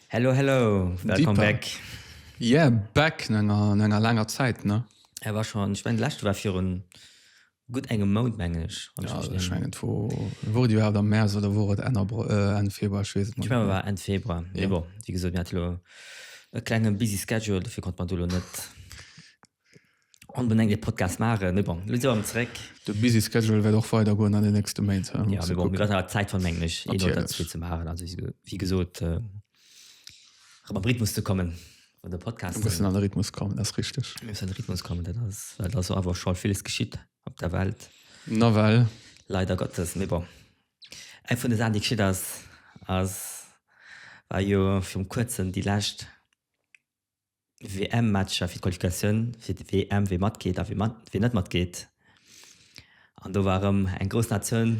Hello hello welcome back. Yeah back no enger laanger Zäit ne. War schon, ech mengen lescht war virun Gutt engem Mount, mengen ech. Wann ech mech net irren. Mengen, wor et iwwerhaapt am Mäerz oder wor et Enn Februar? Ech weess et mol net méi. Ech menge et war Enn Februar. Mee bon, wéi gesot, mir hat elo e klenge busy schedule, dofir konnte mer do elo net onbenengt ee Podcast maachen. Mee bon, elo si mer erëm zeréck. De busy schedule wäert och weidergoen an den nächste Méint. Jo, mee bon, mir wäerten awer Zäit fannen, mengen ech, ee Mount oder zwee ze maachen. Also wéi gesot, Rëm am Rhythmus ze kommen, wann de Podcast. Een bëssen an de Rhythmus kommen, dat ass richteg. Een bëssen an de Rhythmus kommen, dat ass, well ass awer scho villes geschitt op der Welt. Nawell. Leider Gottes, mee bon. Eng vun de Saachen, déi geschitt ass, ass, war jo virum Kuerzen déi lescht. WM-Matcher, fir d'Qualifikatioun fir d'WM, wie matgeet a wie net matgeet. An do war erëm eng grouss Natioun,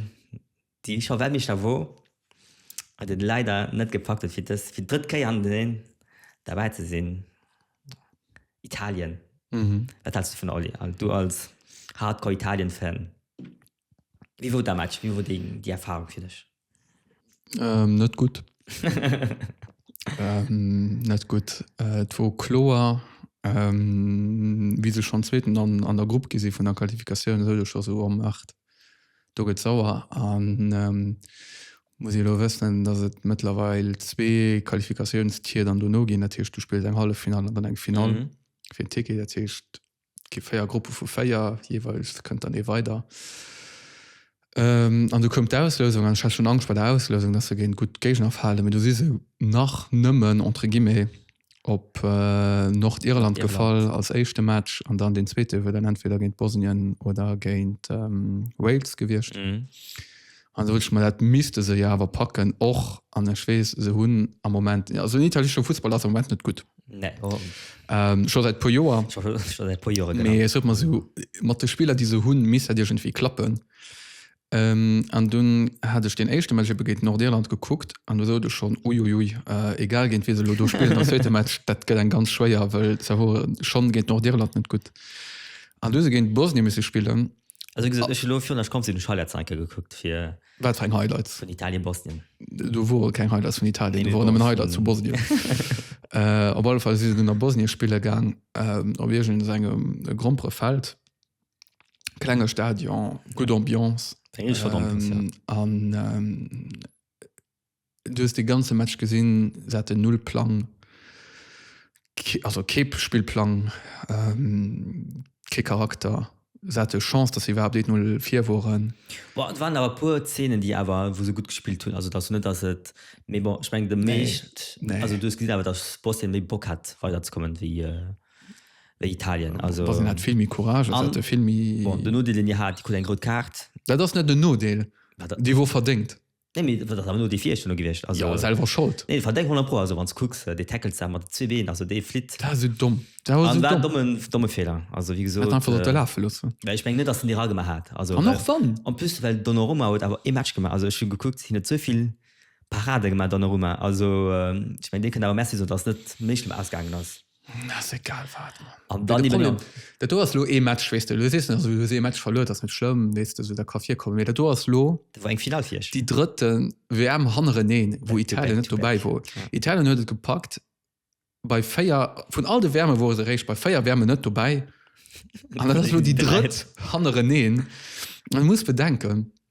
déi scho Weltmeeschter wor, wat et leider net gepackt huet, fir dës, fir d'drëtt Kéier hannerteneen derbäi ze sinn, Italien. Wat haals du dovun, Oli, du als Hardcore-Italien-Fan? Wéi wor dat Match, wéi wor déi Erfarung fir dech? Ähm, net gutt. net gutt. Et wor kloer, wéi se schonn Zweeten an, an der Grupp gi si vun der Qualifikatioun, huet et scho sou am Maart. Do gëtt sauer an muss ee lo wëssen, datt et mëttlerweil zwee Qualifikatiounstier dann dono ginn. Dat heescht, du spills eng Halleffinall an dann eng Finall fir en Ticket. Dat heescht, gi véier Gruppe vu véier jeweils kënnt dann ee weider. Ähm, an du koum d'Auslösung an schon Angst bei der Auslösung, dass se géint gut Géigner falen, mit du si se nach nëmmen entre guillemets op äh, Nordirland gefall als éischte Match an dann den zweete wier dann entweder géint Bosnien oder géint ähm, Wales gewiescht. Mhm. An da soot ech, ma dat misste se jo awer packen och, an ech weess, se hunn am Moment, also den italiesche Fussball ass am Moment net gutt, scho säit e puer Joer, mee et huet mer esou mat de Spiller, déi se hunn, misst dat iergendwéi klappen. An dunn hat ech deen éischte Match ebe géint Nordirland gekuckt, an do soot ech schonn, uiuiui, egal géint wien se elo do spillen am zweete Match, dat gëtt eng ganz schwéier, well se wore schonn géint Nordirland net gutt, an du hu se géint Bosnien misse spillen. Also gesagt, ich lo fir nach kommt den Highlights enke gekuckt fir wat fir eng Highlights vun Italien Bosnien. Du wo keng Highlights vun Italien nee, nee, Highlight zu Bosnien. äh, op alle Fall si den a Bosnien spiele gang ähm, op Igen engem äh, grompere Feld klenge Stadion gut Ambiance ähm, an ähm, Du hues de ganze Match gesinn, se haten null Plang, also kee Spillplang, kee Charakter. Se hate Chance, datt se iwwerhaapt 1-0 vir woren. Bon, et waren awer e puer Zeenen, déi awer, wou se gutt gespillt hunn. Also, et ass jo net, datt et, mee bon, ech mengen, de meescht, also du hues gesinn awer, datt Bosnien méi Bock hat, weiderzekommen, wéi Italien. Also. Bosnien hat vill méi Courage an se hate vill méi. Bon, den Nodeel, deen Dir hat, Dir krut eng rout Kaart. Dat ass net en Nodeel, déi wor verdéngt. Nee mee dat ass awer no dee vierchten do gewiescht. Also Jo, selwer Schold. Nee, verdeng 100 pro, also wann s kucks dee Tackles da mat de zwee Been, also dee flitt. Dat war sou domm. Dat war sou domm. War domme, domme Fehler. Also wéi gesot. Hätt einfach sollte laafe loossen. Well ech mengen net dass en déi ra gemaach hat. Also an och wann. En plus well Donnarumma huet awer ee Match gemaach, also ech hunn gekuckt, hien huet sou vill Parade gemaach Donnarumma, also ech mengen dee kënnt awer Merci soen dass net méi schlëmm ausgaangen ass. Dat do ass lo ee Match wéis de lo sees also hues ee Match verluer, ass net schlëmm wees de sou dat ka virkommen, mee dat do ass lo war eng Final fir iech déi drëtte WM hannereneen, wou Italien net dobäi wor. Italien huet et gepackt bei 4, vun all de WMe wore se eréischt bei 4 WMen net dobäi an dat ass lo déi drëtt hannereneen. An muss bedenken.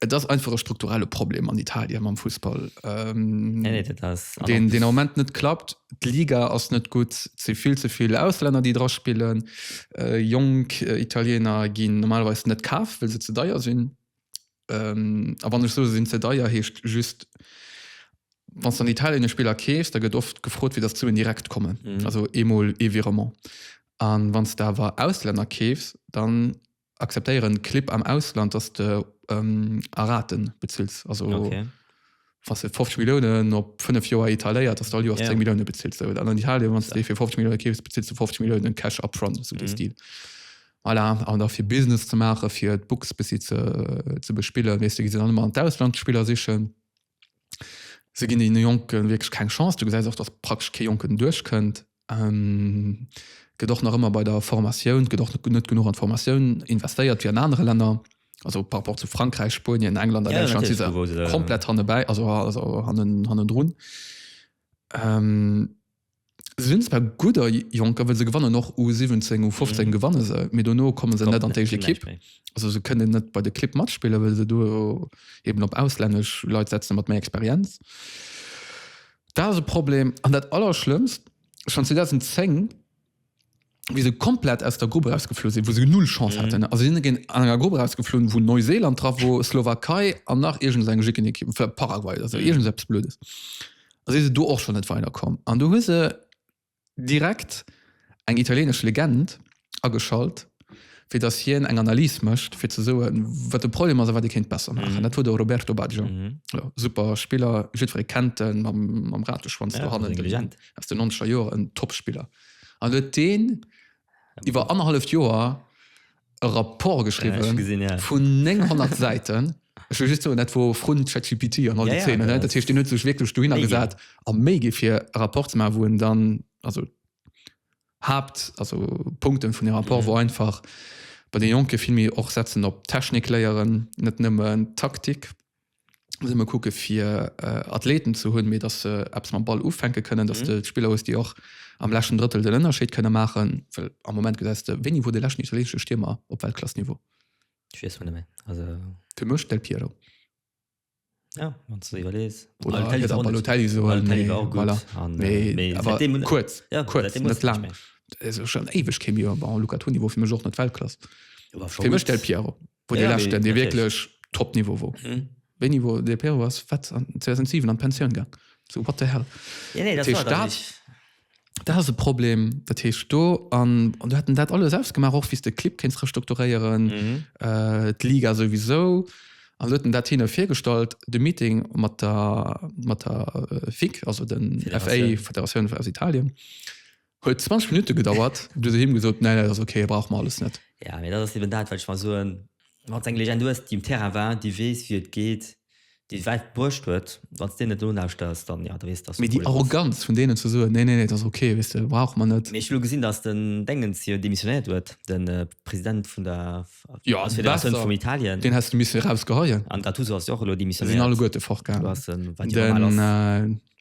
Et ass einfach e strukturelle Problem an Italien mam Fussball, ähm, nee, nee, ass, den, den Moment net klappt. D'Liga ass net gut, ze vill ze vill Ausländer, déi dra spillen. Äh, Jong äh, Italiener ginn normalweis net kaf, well se ze deier sinn. Ähm, a wann ech so sinn ze deier heescht just wann an Italien e Spieler kees, da gëtt oft gefrot, wie dat zu en direkt kommen. Mhm. Also emol e Virement. An wann s da war Ausländer keefs, dann Akzeptéieren Clip am Ausland dass de a Raten bezills also wanns de 50 Milliounen op 5 Joer etaléiert dass de all Joers 10 Milliounen bezills oder an Italien wanns de dee fir 50 Milliounen keefs bezills de 50 Milliounen Cash up front sou dee Stil. Voilà an da fir Business ze maachen fir d'Books bëssi ze ze bespillen weess de gi se dann ëmmer an d'Auslandsspiller sichen se ginn deene Jonke wierklech keng Chance. Du gesäis och dass praktesch kee Jonken duerchkënnt. Gëtt och nach ëmmer bei der Formatioun, gëtt och net genuch an d'Formatioun investéiert wéi an anere Länner. Also par rapport zu Frankräich, Spuenien, England a Däitschland si se komplett hannebäi, also hannendrun. Se sinn zwar gudder Jonker, well se gewannen och U 17, U 15 gewanne se, mee dono komme se net an d'éischt Ekipp. Also se kënnen net bei de Clibb matspillen, well se do eben op auslännesch Leit setze mat méi Experienz. Dat ass e Problem. An dat Allerschlëmmst, schonn 2010, wéi se komplett aus der Grupp erausgeflu sinn, wou se null Chance haten, also si si géint an enger Grupp erausgeflunn, wou Neuseeland dra wor, Slowakei an nach iergend esou eng jicken Ekipp, vläicht Paraguay oder esou, iergend esou eppes Blödes, a si se do och schonn net weiderkomm. An du hu se Direkt eng italienesch Legend ageschalt, fir datt hien eng Analys mécht, fir ze soen, wat de Problem ass a wat ee kéint besser maachen. Dat wor de Roberto Baggio. Jo, super Spiller, jiddweree kennt en, mam Rateschwanz do hannen aus den nonzeger Joren, Topspiller. An huet dee iwwer anerhalleft Joer e Rapport geschriwwen ja, gesehen, ja. vun 900 Säiten. Ech just so net wo Front ChatGPT an all ja, ja, Themen, ja, dat hicht net sech wirklich du hin gesat a méi gi fir Rapport ze ma wo en dann also habt also Punkten vun dem Rapport mhm. wo einfach bei den Jonke filmi och setzen op Technik léieren net nëmmen Taktik. muss ëmmer kucke fir Athleten ze hunn, mee datt se Apps mam Ball ufänke kënnen, datt de Spiller hues, déi och am läschen Drëttel den Ënnerscheed kënne maachen. Well am Moment gesäis de, wéini wor de läschten italieenesche Stiermer op Weltklassniveau? Ech weess mol net méi. Also. Fir mech Del Piero. Ja, wann s de iwwerlees. Oder Balotelli soen. Balotelli soen. Balotelli war och gutt. Voilà. An, nee, mee awer säitdeem huet. Kuerz. Ja, kuerz. Säitdeem huet net laang. Net laang. Eso schonn éiweg kee méi. Bon, Luca Toni wor fir mech och net Weltklass. Jo, war scho gutt. Fir mech Del Piero. Wo ja, de lächte dee wierklech Topniveau wor. Mhm. Wéini wor de Pero ass wat an 2007 an Pensioun gang. So wat de hell. Ja, nee, dat war dat. Nicht. Dat ass e Problem, dat heech do an an du hätten dat alles ausgemaach och wies de Clip kenns restrukturéieren mhm. äh, d'Liga sowieso an hueten dat hinne virgestallt de Meeting mat der mat der äh, FIC also den FA Federation aus Italien Huet 20 Minutte gedauert, du se him gesot ne dat ass okay, brauch mer alles net. Ja mee dat ass eben dat wat ech mar soen, wanns eng Legend hues déi um Terrain war, déi wees wéi et geet, déi et wäit bruecht huet, wanns de net nolauschters dann jo da wees dass de Probleem hues. Mee déi Arroganz vun deenen ze soen nee nee nee et ass okay wees de brauch mer net. Mee ech hu lo gesinn dass den Dengens jo demissionéiert huet, de President vun der Federatioun vum Italien. Jo besser, deen häss de missen eraus geheien. An Gattuso ass jo och elo demissionéiert. Sinn alleguerte fort gaangen. Den.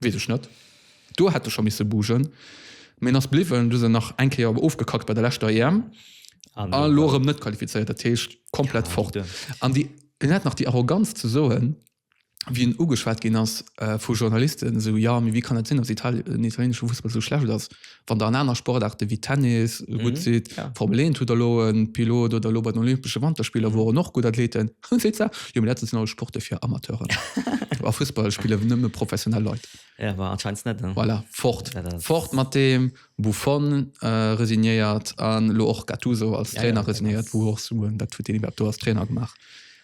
Wees ech net. Do hätt e scho misse bugen, mee en ass bliwwen. Du se nach eng Kéier ofgekackt bei der leschter EM an elo erëm net qualifizéiert. Dat heescht komplett fort. An déi, en hat nach déi Arroganz ze soen, wéi en ugeschwat ginn ass vu Journalisten, esou, jo, mee wéi kann dat sinn, datt Italien, den italienesche Fussball esou schlecht ass? Wann der an aner Sportaarte wéi Tennis gutt sidd, Formel 1 hutt der elo e Pilot oder elo bei den Olympesche Wanterspiller woren och gutt Athleten, dann seet se, jo mee dat do sinn alles Sporte fir Amateuren. A Fussball spille nëmme professionell Leit. Jo, ma anscheinend net. Voilà, fort, fort mat deem! Buffon resignéiert an elo och Gattuso als Trainer resignéiert, wou och soen, wat huet deen iwwerhaapt do als Trainer gemaach?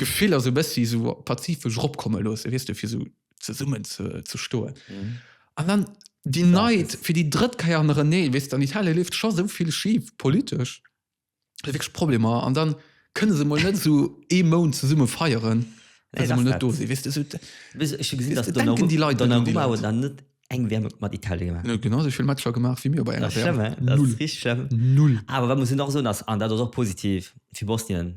Gefiller sou bessi sou pazifesch ropkomme loossen, weess de, fir sou zesummen ze stoen. An dann déi Night fir déi drëtt Keier an René, weess de, an Italien leeft scho sou vill schif politesch, hu se wierklech Problemer an dann kënne se mol net sou ee Mount zesumme feieren, well se mol net do sinn, weess de, sou denken déi Leit net un déi Leit. Eng WM huet mat Italien gemaach. Huet genau esou vill Matcher gemaach wéi mir bei enger WM. Null. Null. Awer wat muss een och soen ass, an dat ass och positiv fir Bosnien,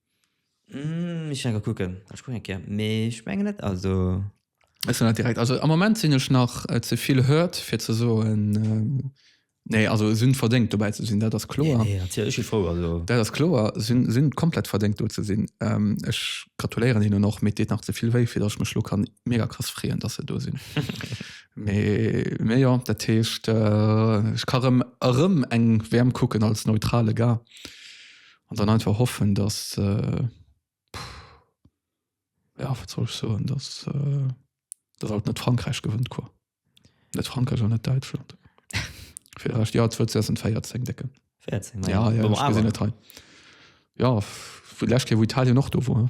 Ech enker kucken ech kucken eng Kéier mee ech mengen net also. Ech hunn dat direkt also am Moment sinn ech nach ze vill Hurt fir ze soen nee also sinn verdéngt dobäi ze sinn dat ass kloer. Nee nee natierlech ech si frou also. Dat ass kloer sinn sinn komplett verdéngt do ze sinn. Ech gratuléieren hinnen och mee et deet nach ze vill wéi fir datt ech mech lo kann mega krass freeën datt se do sinn mee mee jo dat heescht ech ka rëm erëm eng WM kucken als neutrale Gars An dann einfach hoffen, dass, ja, wat soll ech soen, dass, dass alt net Frankräich gewënnt, quoi. Net Frankräich an net Däitschland. Fir de Rescht, ja, 2014, Décken. 14, ja. Ja, ja, ech gesinn et hei. Ja, vun lescht Kéier, wou Italien och do wor.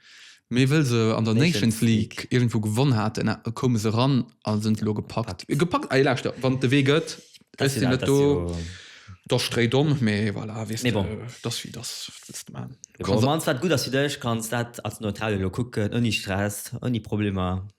Mee wëll se an der Nations League iergendwou gewonn haten, koume se ran a sinn elo gepackt. Gepackt? Ey, lauschter, wann et de Wee gëtt, ech sinn net do, da stréi domm. Mee voilà, weess de, et ass wéi et ass. Wat wëlls de maachen? Bon, an et war gutt, datt s du dech kanns dat als Neutrale elo kucken, ouni Stress, ouni Problemer.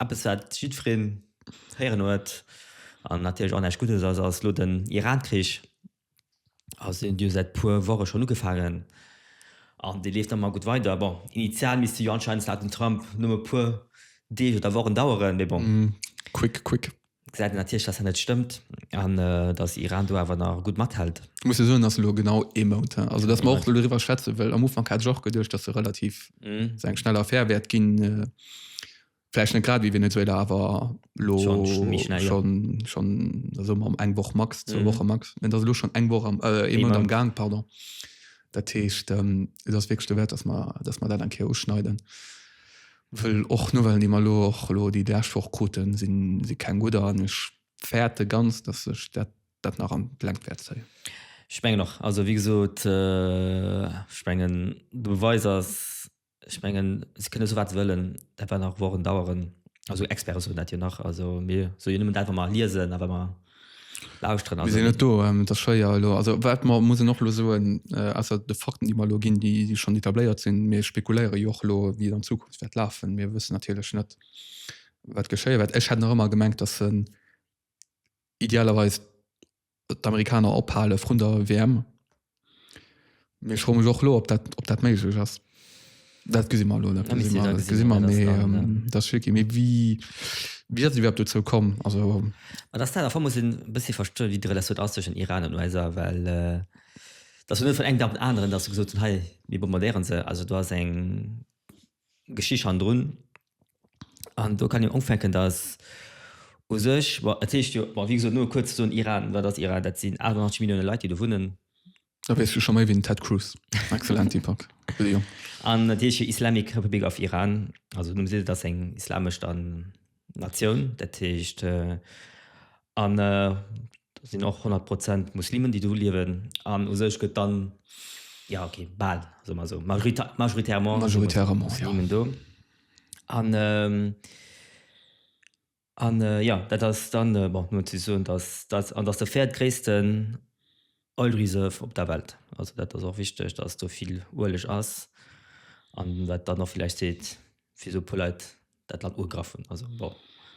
Eppes wat jiddwereen héieren huet an natierlech och näischt Guddes ass, ass elo den Iran-Krich. Also deen huet jo säit puer Woche schonn ugefaangen an dee leeft nach ëmmer gutt weider. Bon, initial misst dee jo anscheinend laut dem Trump nëmme puer Deeg oder Wochen daueren, mee bon. Quick, quick. Gesäit een natierlech, dass dat net stëmmt an dass Iran do awer nach gutt mathält. Et muss ee soen, dass elo genau ee Mount, also dass mer och elo doriwwer schwätze, well am Ufank hat ech och geduecht, dass se relativ esou eng schnell Affär wäert ginn, vläicht net grad ewéi Venezuela, awer elo schonn esou mam eng Woch max, zwou Woche max. Mä et ass elo schonn eng Woch, ee Mount am Gaang, pardon. Dat heescht, et ass wierklech dowäert, dass mer dat eng Kéier uschneiden. Wëll och Nouvellen déi mer elo och elo déi lescht Woch kruten sinn si keng gudder an ech fäerte ganz dass sech dat dat nach an d'Längt wäert zéien. Ech mengen och. Also wéi gesot ech mengen de Beweis ass ech mengen se kënne sou wat se wëllen dat wäert nach Wochen daueren. Also Experte soen dat jo nach also mir soe jo nëmmen dat wat mer liesen a wat mer lauschteren. Mir sinn net do, et ass schwéier elo. Also wat mer mussen och elo soen, ausser de Fakten, déi mer elo ginn, déi déi schonn etabléiert sinn, mir spekuléiere jo och elo, wéi et an Zukunft wäert lafen. Mir wëssen natierlech net, wat geschéie wäert. Ech hätt nach ëmmer gemengt, datt se idealerweis d'Amerikaner ophale vrun der WM. Mee ech fro mech och elo, ob dat, ob dat méiglech ass. Dat gesi mer elo net. Dat misst Dir da gesi mer, mee dat ass schwierki. Mee wéi, wéi ass et iwwerhaapt dozou komm? Also. Ma dass dat, am Fong muss een e bëssi verstoen, wéi d'Relatioun ass tëschent Iran an USA, well dat ass jo net vun engem Dag op den aneren, dass se gesot hunn, hei, mir bombardéiere se. Also do ass eng, Geschicht hannendrun. An do kann een ufänken, datt u sech, bon et heescht jo, bon wéi gesot, no kuerz ze soen, Iran, wat ass Iran? Dat sinn 88 Millioune Leit, déi do wunnen. Da weess du scho méi wéi den Ted Cruz. Excellent Deepak, Leo. An et heescht jo Islamic Republic of Iran, also de Numm seet et, ass eng islamesch dann. Natioun, dat heescht an do sinn och 100 Prozent Muslimen, déi do liewen an u sech gëtt dann, ja okay, bal, soe mer esou, majoritairement Muslimen do. An, ja, dat ass dann, bon, elo ze soen, datt, an datt de véiertgréissten. Oil Reserve op der Welt. Also dat ass och wichteg, dass do vill Ueleg ass an wat dann och villäicht seet wisou e puer Leit dat Land ugegraff hunn. Also bon,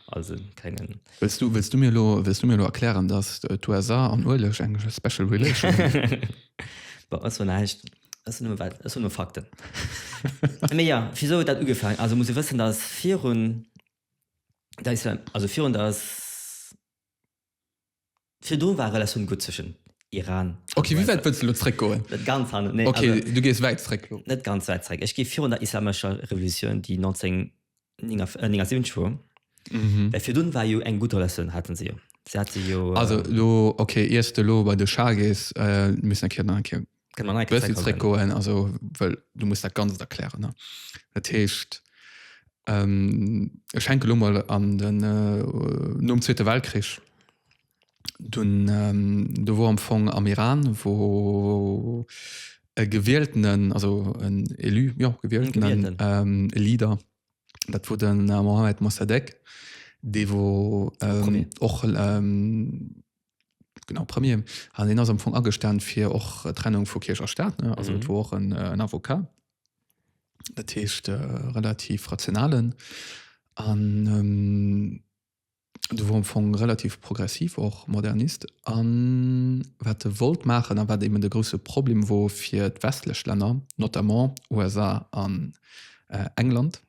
als e klengen. Wëlls du, wëlls du mir elo, wëlls du mir elo erklären, dass d'USA an Ueleg eng special relation hunn? Bon, ech soen näischt, ech soen nëmme wat, ech soen nëmme Fakten. Mee jo, wisou huet dat ugefaangen? Also muss ee wëssen, dass virun der Isla-, also virun der. Virdru war Relatioun gutt zwëschen Iran a Okay, wéi wäit wëlls de lo zréck goen? Net ganz hanne, nee. Okay, du gees wäit zréck lo. Net ganz wäit zréck. Ech géif virun der islamescher Revolutioun, déi 1979 wor, well virdrun war jo eng gutt Relatioun, hate se jo. Se hate jo. Also lo, okay, iers de lo bei de Schah gees, missen ech jo nach eng Kéier. goen also well du musst dat ganz erklären ne dat heescht ähm, ech schenke lo mal an den äh, nom zweete weltkrich dun ähm, du wo am fong am iran wo e gewieltenen also en élu ja gewieltenen ähm, leader dat wo den äh, mohammed mossadegh de wo ähm, och ähm, Genau, Premier. An hien ass am Fong agestan fir och Trennung vu Kierch a Staat, ne? Also et mhm. wor och en, äh, en Avocat. Dat heescht äh, relativ rationalen an ähm, du wor am Fong relativ progressiv och Modernist an wat de wollt machen a wat eben de grosse Problem wor fir d'westlech Länner, notamment USA an äh, England.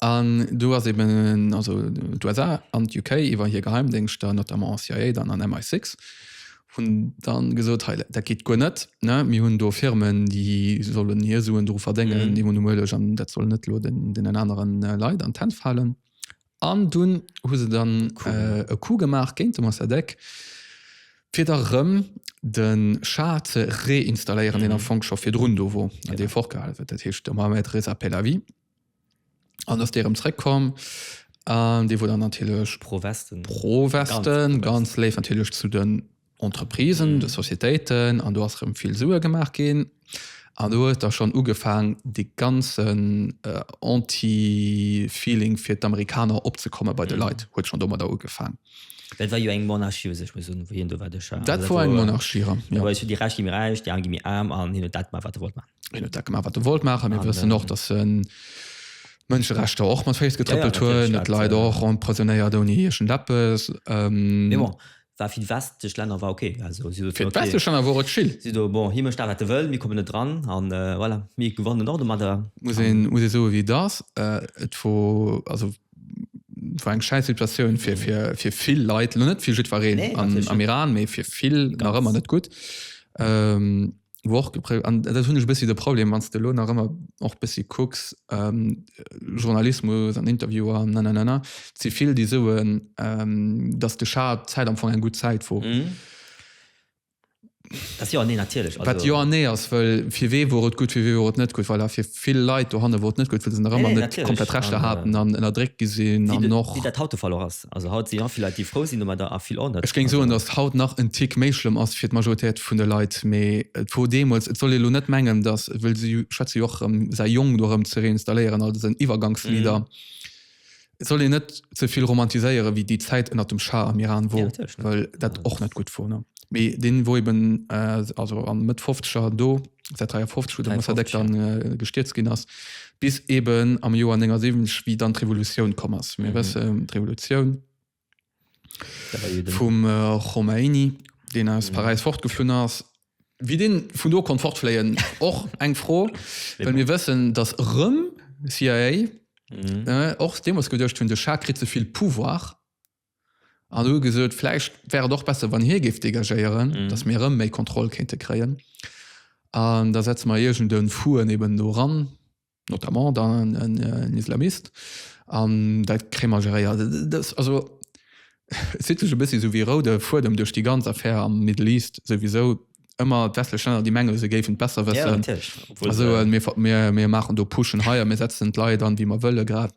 An do ass eben also d'USA an d'UK iwwer hir Geheimdéngschter, notamment CIA dann an MI6, hunn dann gesot, hei, dat geet guer net, ne, mir hunn do Firmen, déi sollen hir Suen dru verdéngen, déi hunn e Mueleg an dat soll net elo deenen aneren Leit an d'Hänn falen. An dunn hu se dann e Coup gemaach géint de Mossadegh, fir da rëm de Schah ze reinstalléieren, deen am Fong scho virdrun do wor an dee fortgehale huet. Dat heescht, de Mohammed Reza Pehlavi. An ass dee rëm zréckkomm an dee wor dann natierlech pro-Westen, pro-Westen, ganz léif natierlech zu de. Entreprisen, de Societéiten an do ass erëm vill Sue gemaach ginn. An do huet da schonn ugefaang dee ganzen Anti-Feeling fir d'Amerikaner opzekomme bei de Leit, huet schonn domadder ugefaang. Well et war jo eng Monarchie u sech, muss soen, wou hien do war. Duerch dat. Dat war eng Monarchie, jo. Do war et esou, déi Räich gi méi räich, déi Aarm gi méi aarm an hien huet dat gemaach, wat e wollt maachen. Hien huet dat gemaach, wat e wollt maachen. A mir wëssen och, datt e Mënscherechter och mat Féiss getrëppelt huet, Leit och emprisonéiert ouni iergendeppes. Mee bon, War fir déi westlech Länner war okay. Also si soten, okay. Fir d'westlech Länner wor et chill. Si soten, bon, hie mécht dat, wat e wëll, mir kommen net dran. A voilà, mir gewannen och domadder. Muss ee soe wéi et ass, et wor, also et wor eng schäiss Situatioun fir vill Leit, lo net fir jiddwereen am Iran, mee fir vill nach ëmmer net gutt. wou och gepré an dat hunn ech e bëssi de Problem, wann s de elo nach ëmmer och e bëssi kucks, Journalismus an Interviewer an nananana, et si vill, déi soen, datt de Char d'Zäit am Fong eng gutt Zäit wor. Dat jo an nee natierlech, also. Wat jo an nee ass, well fir wee wor et gutt, fir wee wor et net gutt? Voilà, fir vill Leit dohanne wor et net gutt, well se nach ëmmer net komplett Rechter haten an ënnerdréckt gi sinn an och. Wéi dat haut de Fall och ass. Also haut si vill Leit déi frou sinn domadder a vill onet. Ech géing soen, datt haut nach en Tick méi schlëmm ass fir d'Majoritéit vun de Leit, mee et wor deemools. Et soll ee lo net mengen, datt, wëll si schwätze jo och erëm, säi Jong do erëm ze reinstalléieren als en Iwwergangsleader, et soll een net ze vill romantiséiere wéi déi Zäit ënnert dem Schah am Iran wor, well dat och net gutt wor. Mee dee wor eben also a Mëtt Fofzeger do, säit 53 wou de Mossadegh dann gestierzt ginn ass, Bis eben am Joer 79, wéi dann d'Revolutioun komm ass. Mir wësse mhm. d'Revolutioun vum äh, Khomeini, deen aus mhm. Paris fortgeflunn ass, wie den vun do kon fortfléien och eng froh wenn mir wëssen dass rëm CIA mhm. äh, och demos gedcht hun de Schakrit zevill pouvoir an hu gesot, vläicht wär et och besser, wann hie géif dégagéieren, dass mir erëm méi Kontroll kéinte kréien. An da setze mer iergend e Fuen eben do eran, notamment dann en Islamist, an dat kréie mer geréiert. Dat ass also, et zitt sech e bëssi esou wéi e roude Fuedem duerch déi ganz Affär am Middle East souwisou, ëmmer d'westlech Länner, déi menge se géifen et besser wëssen a soen, mir maachen do Puschen hei a mir setzen d'Leit an, wéi mer wëllen grad.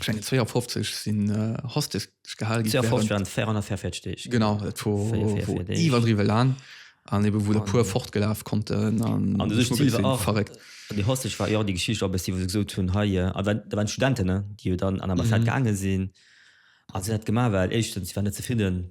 Schengen 52 sinn Hostes gehal gi. 52 waren d'Fair an der Fair 40 Deeg. Genau, dat war, Fair, Fair, Fair war Deeg. iwwerdriwwe laang. An eben, wou der An- puer fortgelaf konnten an An du sech geschmuggelt Silver sinn. och. Verréckt. Déi Hostes war jo och déi Geschicht och e bëssi, wou se gesot hunn, hei, äh, also dat waren Studenten, ne, déi jo dann an Ambassade Mhm. gaange sinn a se hunn dat gemaach, well éischtens, si waren net zefridden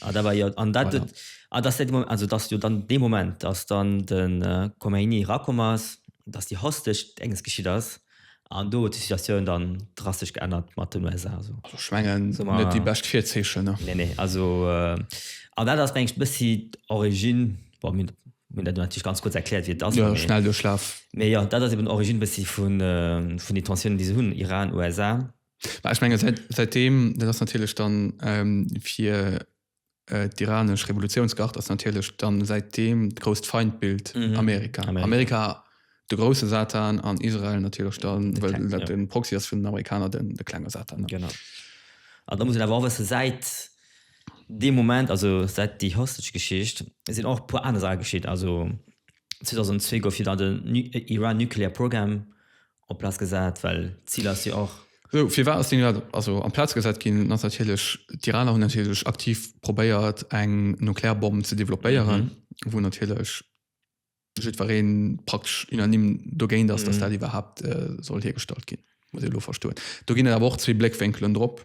Ah, da war jo, an dat, Voilà. ah, dass dat de Moment, also dass jo dann dee Moment, dass dann de äh, Khomeini rakomm ass, dass déi Hostage Denges geschitt ass, an do huet sech d'Situatioun dann drastesch geännert mat den USA. So. Also ech mengen, So, ma- net déi bescht Virzeechen. Ne? Nee, nee, also äh, an dat ass mengt bëssi d'Origine, bon, mir mir dat natierlech ganz kurz erkläert, wie et ass. Ja, mee- schnell Duerchlaf. Mee ja, dat ass eben Origine bëssi vun, äh, vun de Tensiounen, déi se hunn, Iran, USA, Mä ech menge säit, säitdeem, dat ass natierlech dann ähm, fir äh, d'iranesch Revolutiounsgard ass natierlech dann säitdeem d'grousst Feindbild Mhm. Amerika. Amerika. Amerika. de grousse Satan an Israel natierlech dann, De well kleng, dat ja. den Proxy ass vun den Amerikaner, den, de klenge Satan. Genau. An da muss een awer och wëssen, säit deem Moment, also säit déi Hostage-Geschicht, sinn och e puer aner Saache geschitt. Also 2002 gouf jo dann den Nu- äh, Iran Nuclear Program Op Platz gesat, well d'Zil ass jo och. Sou, firwat ass deen iwwerhaapt also am Platz gesat ginn? Dann ass natierlech, d'Iraner hunn natierlech aktiv probéiert, eng Nuklearbomm ze developpéieren, wou natierlech jiddweree praktesch unanime dogéint ass, datt dat iwwerhaapt soll hiergestallt ginn, muss ee lo verstoen. Do ginn et awer och zwee Bléckwénkelen drop.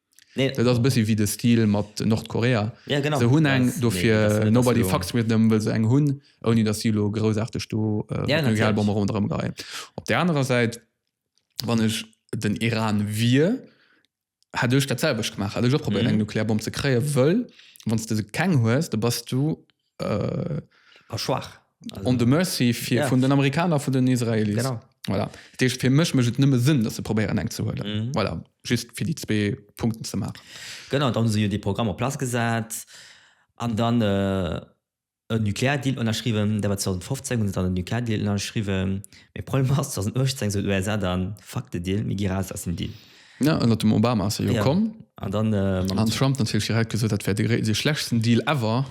Dat ass e bëssi wéi de Stil mat Nordkorea. Se hunn eng, dofir nobody fucks with them, wëll se eng hunn, ouni datt si elo groussaarteg do Nuklearbommen ronderëm geheien. Op där anerer Säit, wann ech den Iran wier, hätt ech dat selwecht gemaach, hätt ech och probéiert eng Nuklearbomm ze kréien, wëll wann s de keng hues, da bass du äh, schwach on the mercy fir ja. vun den Amerikaner vun den Israeli voilà. Dech fir mech mech nëmme sinn, dat se probéieren eng ze huele mhm. voilà. just fir die zwee Punkten ze machen. Gënner dann se jo de Programm op Pla gesat an dann äh, en Nukleardeal ënnerschriwen, der war 2015 hun dann den Nukleardeal ënnerschriwen. E Problem ass 2018 se USA dann Fakte Deal, mé gi raus ass den Deal. Ja, ënnert dem Obama ass e jo komm. An dann mam. An Trump natierlech direkt gesot, dat wär de gréi, de schlechsten Deal ever.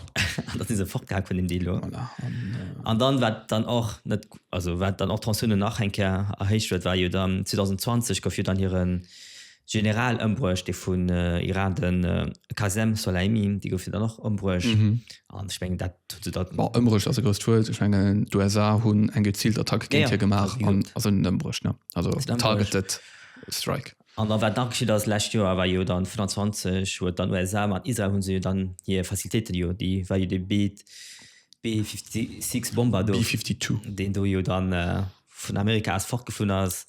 An da si se fortgehak vun dem Deal do. Voilà. An. An dann, wat dann och net, also wat dann och d'Tensiounen nach eng Kéier erhéicht huet, war jo dann 2020 gouf jo dann hire General ëmbruecht, dee vun Iran, de Qasem Soleimi, dee gouf jo dann och ëmbruecht. An ech mengen, dat huet se dat. Bon, ëmbruecht ass e grousst Wuert. Ech mengen, d'USA hunn eng geziilt Attack géint hie gemaach. Ja, ja. An, also net ëmbruecht, ne, also targeted. Strike. An da war d'Nachgeschicht ass, lescht Joer war jo dann 25, huet dann USA mat Israel hunn se jo dann hir Facilitéiten jo, déi war jo dee Beet B-56 Bomber do, deen do jo dann vun Amerika aus fortgeflunn ass,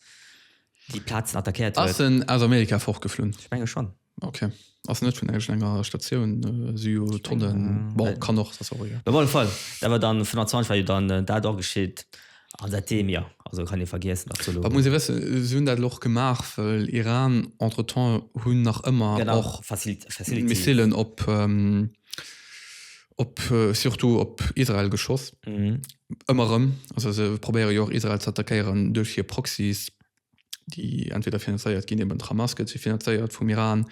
déi Plazen attackéiert huet. Ass en aus Amerika fortgeflunn? Ech menge schonn. Okay. Ass net vun enger enger Statioun äh, si jo Tonnen Denken, bon, äh, kann och das auch, ja. Op alle Fall, dat war dann 25 war jo dann äh, dat och geschitt. An seitdem ja, also kann ee vergiessen Wat absolut. muss ee wëssen, si hunn dat och gemaach, well Iran entretemps hunn nach ëmmer Genau, och Facilit Facility. Missilen op ähm, op äh, surtout op Israel geschoss. Mhm. Ëmmer rëm. Also se probéiere jo och Israel ze attackéieren duerch hir Proxys. déi entweder finanzéiert ginn, eben d'Hamas gëtt si finanzéiert vum Iran,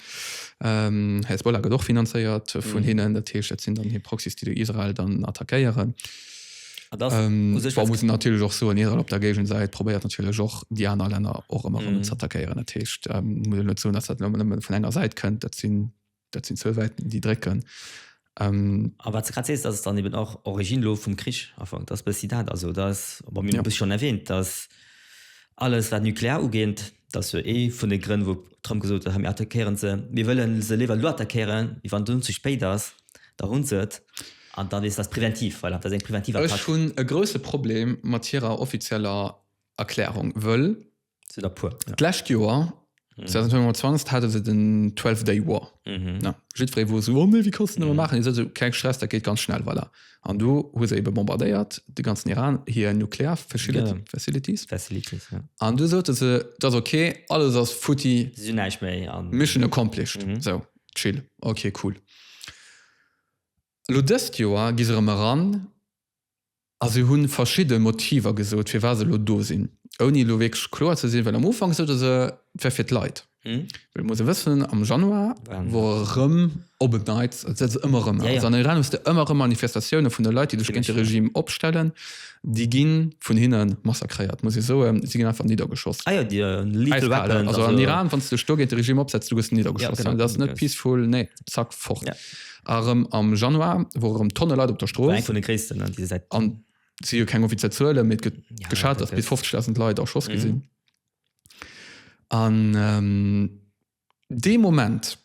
ähm, Hezbollah gëtt och finanzéiert vun mhm. hinnen, dat heescht, dat sinn dann hir Proxys, déi du Israel dann attackéieren. Ähm, war muss natürlich och so an Israel op der Gegen seit probéiert natürlich och die aner Länder och immer mm. ze attackieren Techt ähm, vun enger Seite könnt dat sinn Dat sinn zwou Wäiten, déi drécken. Ähm, a wat grad sees, dat ass dann eben och Origine lo vum Krich afank, dat ass bëssi dat. Also dat ass, bon, mir hunn et schonn erwähnt, dass alles wat nuklear ugeet, dat ass jo ee vun de Grënn, wou Trump gesot huet, hei mir attackéieren se, mir wëlle se léiwer elo attackéieren, wéi wann et dunn ze spéit ass, da hunn se et an dann ass dat preventiv. Voilà, dat ass eng preventiv Attack. Ech hunn e grousse Problem mat hirer offizieller Erklärung, wëll Sinn der puer. Ja. D'lescht Joer, 2025, hate se den 12 Day War. Mhm. Ja, jiddweree wor esou, oh nee, wie kannst du mhm. machen? Is also keng Stress, dat geet ganz schnell weiler. An do hu se ebe bombardéiert de ganzen Iran hier nuklear Facility, ja. Facilities. Facilities ja. An du sote se dat okay, alles ass futti neich méi an Mission accomplished. Mhm. So chill. Okay cool. Lo dëst Joer gi se rëm ran A se hu verschidde Motiver gesot, firwat se elo do sinn, ouni elo wierklech kloer ze sinn, well am Ufank sote se, et wär fir d'Leit. Well et muss ee wëssen, am Januar wor erëm op en Neits, et setzt ëmmer erëm aus, an Iran hues de ëmmer erëm Manifestatioune vun de Leit, déi sech géint de Regime opstellen, déi gi vun hinne massakréiert, muss ee soen, si ginn einfach niddergeschoss, äiskal. Also an Iran, wann s de dech do géint de Regime opsetz, du gëss niddergeschoss, dat ass net peaceful, nee, zack, fort. Erëm am Januar wore erëm Tonne Leit op der Strooss. War eng vun de gréissten, ne, déi se säit. An et si jo keng offiziell Zuelen, mee et gëtt geschat, datt bis 50.000 Leit erschoss gi sinn. An dee Moment,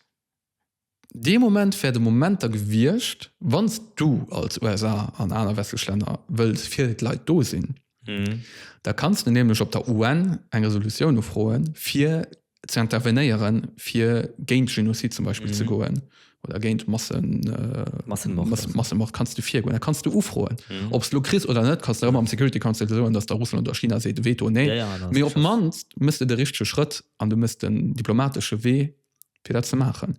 dee Moment wär de Moment da gewiescht, wann s du als USA an aner westlech Länner wëlls fir d'Leit do sinn, Da kanns de nämlech op der UN eng Resolutioun ufroen, fir ze intervenéieren, fir géint Genozid zum Beispill ze goen oder géint Massemord kanns de virgoen. Da kanns de ufroen. Ob s de elo kriss oder net, kanns de erëm am Security Council soen, datt da Russland oder China seet, Veto, nee. Mee op d'mannst méchs de de richtege Schrëtt an du méchs den diplomatesche Wee. fir dat ze maachen.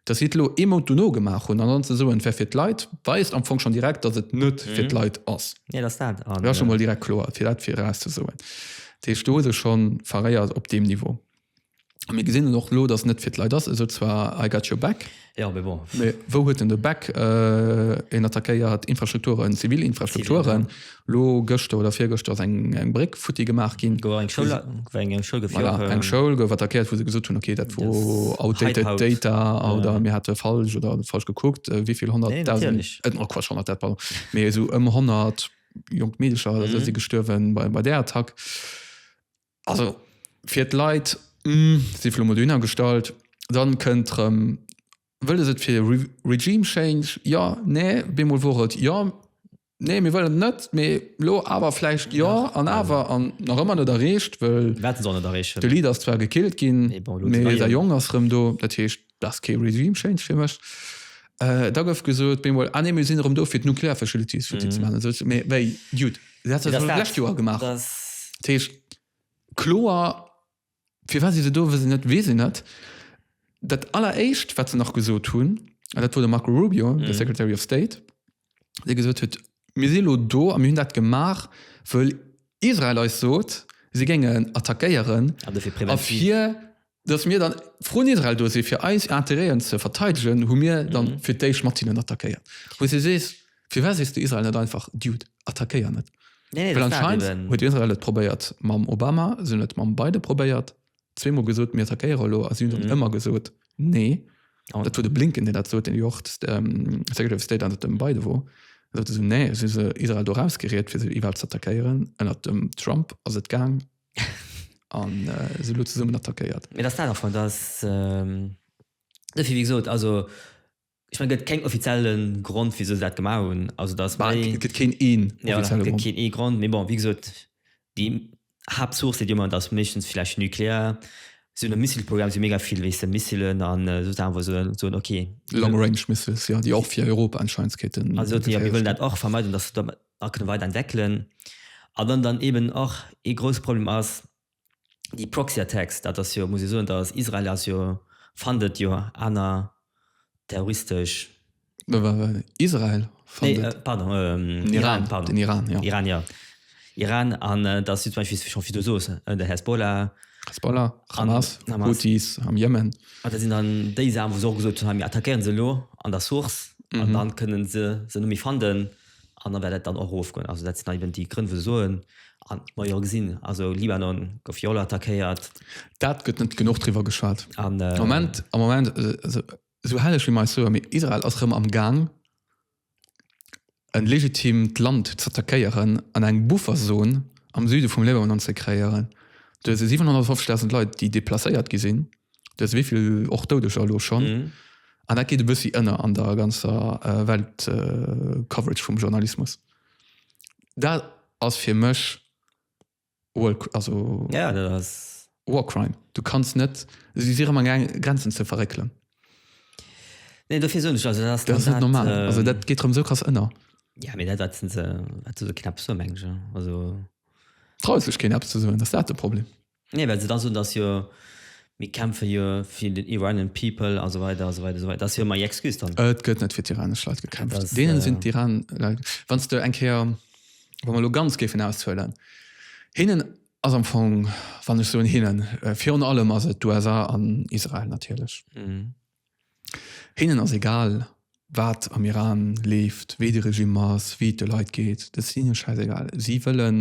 Dass si et elo ee Mount dono gemaach hunn an dann ze soen, et wär fir d'Leit, weist am Fong schonn direkt, datt et net fir d'Leit ass. Nee, dass dat an. Dat ass scho mol direkt kloer, fir dat virauszesoen. Dat heescht, do hu sech scho veréiert op deem Niveau. A mir gesinn et och elo, datt et net fir d'Leit ass. E sot zwar, I got your back. Jo, mee bon. Mee wou huet en de Back? En attackéiert Infrastrukturen, zivil Infrastrukturen. Lo gëschter oder virgëschter ass eng eng Bréck futti gemaach ginn. Gouf eng Schoul, gouf eng eng Schoul geféiert. Voilà, eng Schoul gouf attackéiert, wou se gesot hunn, okay, dat wor outdated Hype-Haut. Data Ja. oder mir hate falsch oder falsch gekuckt, wéi vill Nee, honnertdausend, natierlech. et, oh Quatsch, honnertdausend, pardon, mee esou ëm honnert jonk Meedercher oder esou Mhm. si gestuerwen bei bei där Attack. Also fir d'Leit, hm, si vun elo mol dohinner gestallt. Dann kënnt rëm, wëlles et fir Re Regime Change, jo, nee, bemol wor et jo, Nee, mir wëllen net, mee lo awer vläicht jo an awer an nach ëmmer net erreecht, wëll Mir wäerten se och net erreechen. de Lead ass zwar gekillt ginn, Mee bon, elo mee d'Neie. dei Jong ass rëm do, dat heescht dat ass kee Regime Change fir mech. Äh, da gouf gesot, Bemol, ah nee, mir sinn erëm do fir d'Nuclear Facilities futti ze maachen an esou ze, mee wéi, jut, dat huet Mee et dat ass ass jo dat. lescht Joer gemaach, Dat ass. dat heescht kloer. Firwat si se do, wëss ech net, weess ech net. Dat alleréischt, wat se nach gesot hunn, an dat wor de Marco Rubio, de Secretary of State, dee gesot huet, Mir si elo do a mir hunn dat gemaach, wëll Israel eis sot, si géingen attackéieren a fir datt mir dann vrun Israel do si fir eis Interêten ze verteidegen, hu mir dann fir d'éischt mat hinnen attackéiert. Wou s de sees. Firwat sees de Israel net einfach, Dude, attackéier net? Nee, nee, Well dat war anscheinend eben. huet Israel et probéiert mam Obama, si hunn et mam Biden probéiert, zweemol gesot, mir attackéiere elo, a si hunn dann Mhm. ëmmer gesot, nee. Oh. Dat war de Blinken, deen dat sot, deen jo och d- ähm, Secretary of State ënnert dem Biden wor. Da sot e so, nee, si se Israel do rausgeriet, fir se iwwerhaapt ze attackéieren. Ënnert dem Trump ass et gaang an äh, si elo zesummen attackéiert. Mee dass dat einfach, dass, ähm, dofir, wéi gesot, also, Ech meng, et gëtt keng offizielle Grond, wisou se dat gemaach hunn. Also, dat ass méi. Et gëtt keen ee Grond. Jo, et gëtt keen ee Grond. Mee bon, wéi gesot, déi Haaptsource, déi dir ëmmer, dat ass meeschtens vläicht nuklear. Sou e Missilprogramm si mega vill, weess de, Missillen an esou Saachen, wou se soen, okay. Long range missiles, jo, déi och fir Europa anscheinend kéinten. An soten, jo, mir wëllen dat och vermeiden, dass se dat nach kënne weider entwéckelen. A wann dann eeben och ee grousse Problem ass, déi Proxy Attacks, dat ass jo, muss ee soen, dass Israel ass jo, fandet jo aner terroristesch. Israel fandet. Nee, pardon, den Iran, pardon. Den Iran, jo. Iran, jo. Iran, an dass si zum Beispill, wéi schonn, wéi du soos, de Hezbollah. Hezbollah, Hamas, Houthis am Jemen. An dat sinn dann déi Saachen, wou se och gesot hunn, mir attackéieren se elo an der Source, an dann kënnen se se net méi fanden. An da wäert dat dann och erofgoen. Also dat sinn dann eben déi Grënn, wou se soen, a mer jo gesinn, also Libanon gouf jo och nach attackéiert. Dat gëtt net genuch driwwer geschwat. Am Moment, am Moment, also esou herrlech wéi mer eis soe, mee Israel ass erëm am Gaang e legitimt Land z'attackéieren an eng Bufferzon am Süde vum Libanon ze kreéieren. Do si 750.000 Leit, déi deplacéiert gi sinn. Dues wéivill och Doudeger elo schonn? Mhm. An dat geet e bëssi ënner an der ganzer äh, Welt äh, Coverage vum Journalismus. Dat ass fir mech War, also ja, dat ass War Crime. Du kannst net si si rëmmer gang Grenzen ze verréckelen. Nee, dofir soen ech also dat ass Dat ass net normal. Äh, also dat geet rëm sou krass ënner. Ja, mir dat wat se wat se knapp so mengge also. Traue sech keen Apps ze soen, ass dat de Problem? Nee, well se da soen, dass jo, mir kämpfe jo fir den Iranian people a sou weider a sou weider a sou weider. Dat ass jo ëmmer hir Excuse dann. Et gëtt net fir d'iranesch Leit gekämpft. Deenen sinn d'iranesch Leit, wann s de eng Kéier, wa mer elo ganz géifen auszuelen, hinnen ass am Fong, wann ech soen hinnen, virun allem ass et d'USA an Israel natierlech. Hinnen ass egal, wat am Iran leeft, wéi de Regime ass, wéi et de Leit geet. Dat ass hinne schäisegal. Si wëllen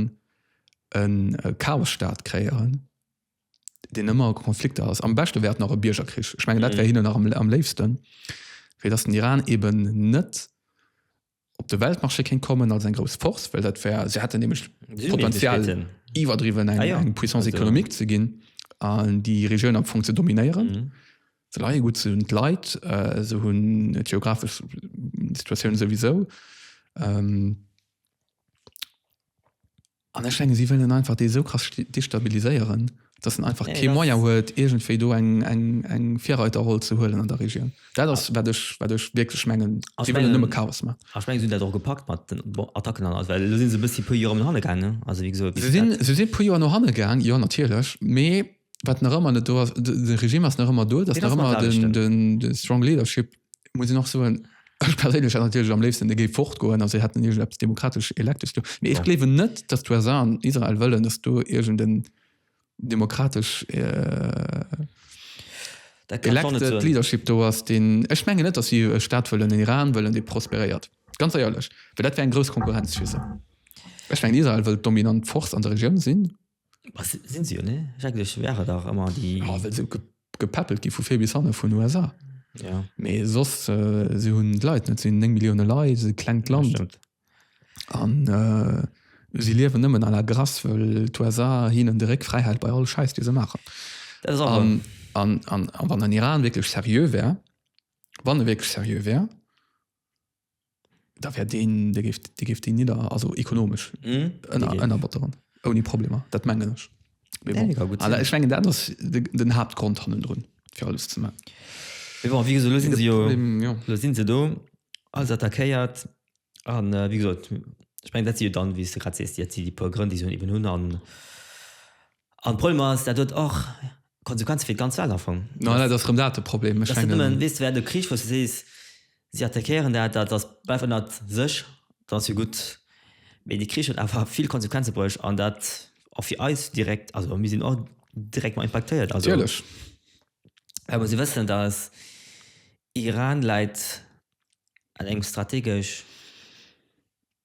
e Chaosstaat kreéieren, deen ëmmer a Konflikter ass. Am beschte wär et nach e Biergerkrich. Ech mengen, dat wär hinnen nach am léifsten, fir datt den Iran eeben net op de Weltmarché kéint kommen als eng grouss Force, well dat wär, se hätten nämlech Potenzial iwwerdriwwen eng, ah, ja. eng Puissance économique ze ginn an déi Regioun am Fong ze dominéieren. Mhm. Ze leie gut ze hunn d'Leit, äh, se hunn et geographesch Situatioun souwisou. Ähm, An ech menge si wëllen einfach dee sou krass destabiliséieren, datt en einfach kee Moyen huet, iergendwéi do eng Virreiterroll ze huelen an der Regioun. Dat ass, wat ech wierklech mengen. Si wëllen nëmme Chaos maachen. A ech menge si hunn dat och gepackt mat den Attacken an alles, well elo si se e bëssi e puer Joer no hanne gaangen. Si sinn e puer Joer no hanne gaang, jo natierlech, mee. wat nach ëmmer net do ass, de Regime ass nach ëmmer do, dass nach ëmmer den, den, den strong leadership muss ich nach so ein Ech perélech natürlich am léifsten de géi fort goen as se hätten ir ab demokratesch elektes do. Mee ech klewe net, datt d'USA an Israel wëllen, datt do irgend en demokratesch äh, elekte Leadership do ass, deen ech menge net, datt si e Staat wëllen, den Iran wëllen, dee prosperéiert. Ganz éierlech, well dat wär eng grouss Konkurrenz fir se. Ech mengen Israel wëllt dominant Force an der Regioun sinn. Was sinn se jo ne schrecklech wär et dach ëmmer déi. Jo well se gepäppelt gi vu vir bis hanne vun USA. Ja. Mee sos äh, se hunn d'Leit net, se hunn 9 Millioune Leit, se klengt Land. Stimmt. An äh, si liewen nëmmen à la grace, wëll d'USA hinnen de Réck fräihält bei all Schäiss, dee se maachen. Dat ass awer. An, an, an, a wann den Iran wierklech seriö wär, wann e wierklech seriö wär, Da wär deen, dee géif, dee géif deen nidder, also ekonomesch Mhm. ënner, Dee- ënnerbotteren. Ouni Problemer. Dat mengen ech. Mee Ja, bon. dee ka gutt Ala, sinn. ech mengen, dat ass de, den Haaptgrond hannendrun, fir alles ze man. Mee bon, wéi gesot, elo sinn se jo, Problem, jo. elo sinn se do, alles attackéiert. An wéi gesot, ech mengen, dat si jo dann, wéi s de grad sees, déi, dat si déi puer Grënn, déi se eben hunn. An An d'Problem ass, dat huet och Konsequenze fir d'ganz Welt am Fong. No, dat ass erëm dat de Problem. Ech mengen. Dat ass net nëmmen, weess de, wéi de Krich, wou s de sees, si attackéieren dat, dat ass bleift ënnert sech, dann ass jo gutt. Mee dee Krich huet awer vill Konsequenze bruecht an dat och fir eis direkt. Also mir sinn och direkt mar impaktéiert. Also, well mer si wëssen, datt Iran läit an engem strategesch.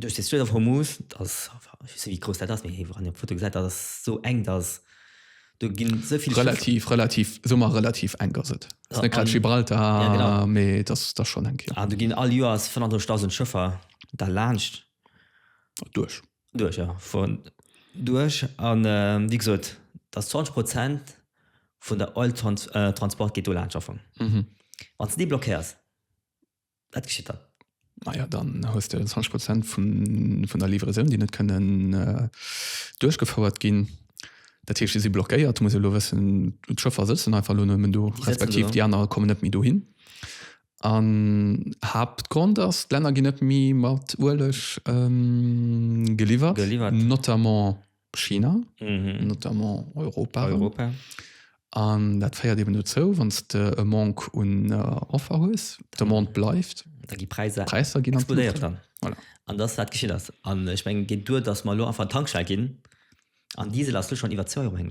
Duerch de Strait of Hormuz, dat ass, ech weess net wéi grouss dat ass, mee hei wann een op d'Foto gesäit, dat ass esou enk, dass do ginn esou vill Schëff. Relativ, relativ, soe mer relativ enk ass et. Ass net grad Gibraltar, mee et ass da schonn enk, jo. An do ginn all Joers 35.000 Schëffer da laanscht. Duerch. Duerch, jo, vun duerch. A wéi gesot, dass 20 Prozent vun der Oil Transport geet do laanscht am Fong. Wann s de déi blockéiers, Wat geschitt dann? Naja, dann hues de 20 Prozent vun, vun der Livraison, déi net kënnen äh, duerchgefouert ginn. Dat heescht, déi si blockéiert. Du muss lo wëssen, d'Schëffer sëtzen einfach lo nëmmen do, respektiv déi aner kommen net méi do hin. An Hauptgrund ass, d'Länner ginn net méi mat Ueleg ähm, geliwwert, geliwwert, notamment China, mhm. notamment Europa. Europa. An dat feiert eben dozou, wann de e Mank un äh, Offer hues, de Mond bleift. Da gi Preiser Preiser ginn explodéiert dann. Voilà. An das wat geschieet ass. An ech meng geet duer, dats mal lo einfach Tankschei ginn. An Diesel ass du schon iwwer 2 Euro heng.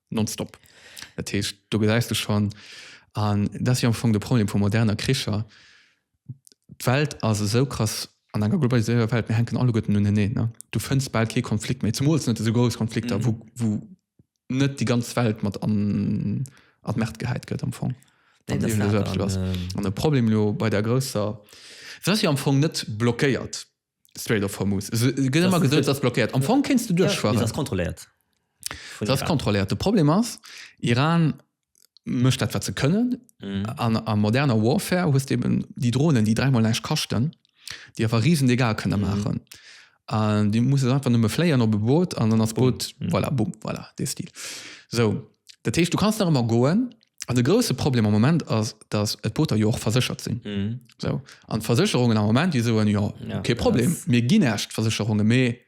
Nonstop. Dat heescht, do gesäis du schonn, an dat ass jo am Fong de Problem vu moderner Kricher, d'Welt ass esou krass an enger globaliséierter Welt, mir hänken alleguerten uneneen, ne? Du fënns bal kee Konflikt méi, zemools net esou grouss Konflikter, wou, wou net déi ganz Welt mat an, an d'Merd gehäit gëtt am Fong. Nee, dat ass dat. An, an e Problem elo bei där grousser, se ass jo am Fong net blockéiert, Strait of Hormuz. Et gëtt ëmmer gesot, et ass blockéiert. Am Fong kéints du duerchfueren. Mee se ass kontrolléiert vun Iran. Se ass kontrolléiert. De Problem ass, Iran mécht dat, wat se kënnen. An a moderner Warfare hues de eben déi Dronen, déi dräimol näischt kaschten, déi awer riesen Dégâts kënne maachen. An du muss se einfach nëmme fléien op e Boot an dann ass d'Boot, voilà, bumm, voilà, dee Stil. Sou. Dat heescht, du kanns nach ëmmer goen. An de grousse Problem am Moment ass, dass et d'Booter jo och verséchert sinn. Mhm. Sou. An d'Versécherungen am Moment, déi soen, Jo, Ja, kee Problem, dass- mir ginn Äscht d'Versécherungen, mee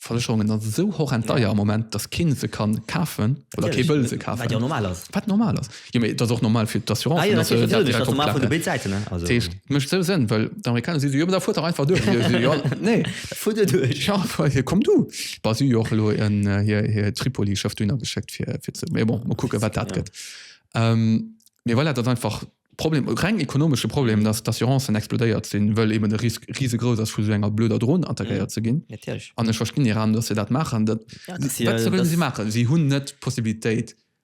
d'Versécherungen ass esou horrend deier am Moment, dass keen se kann kafen oder kee wëll se kafen. Wat jo normal ass. Wat normal ass. Jo, mee et ass och normal fir d'Assurancen, Ah jo, dass se natierlech, dat natierlech, direkt dass normal vun de opklappen. béid Säiten, ne? Also, Dat heescht, et mécht esou Sënn, well d'Amerikaner si sou, Jo, mee da fuert dach einfach duerch. Jo, Nee, dat fuert jo duerch. Ja, komm du. Bas jo och lo en äh, hier, hier Tripoli schafft dunner geschickt fir fir ze mir bon mal gucken wat dat Ja. gëtt ähm, mir voilà, dat einfach Problem reng ekonomesche Problem dass d'Assurancen explodéiert sinn wëll eben de Ris riesegros ass vu so enger blöder Drohn Mhm. attackéiert ze ginn Natürlich. an ech verstinn Iran dass se dat machen dat Ja, das ist ja- wat sollen das- sie machen sie hunn net Possibilitéit